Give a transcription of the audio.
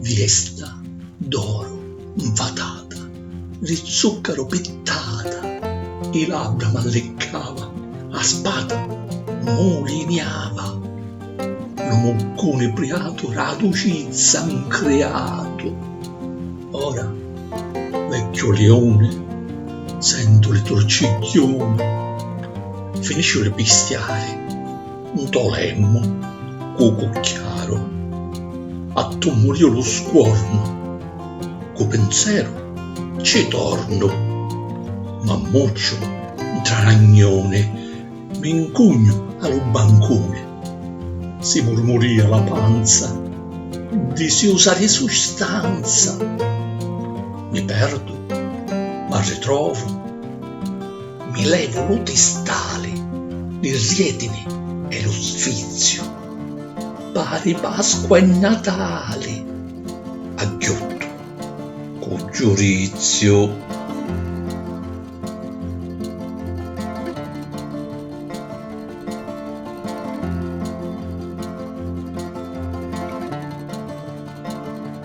Viesta d'oru 'nfatata, di zùccaru pittata, i labbra m'alliccava, a spata muliniava. Lu muccuni priatu d' 'a ducizza 'ncriatu, ora, vecchiu liuni, sentu li turcigghiuni, finisciu di pistiari. Nto lemmu cu cucchiaru. A tummuriu lu scuornu. Cu pinzeru cci tornu. M'ammucciu ntra ragnuni. Mi ncugnu a lu bancuni. Si murmuria la panza. Disiusa di sustanza. Mi perdu, m'arritrovu. Mi levu lu tistali, li rietini e lu sfiziu, pari Pasqua e Natali, agghiuttu cu giuriziu.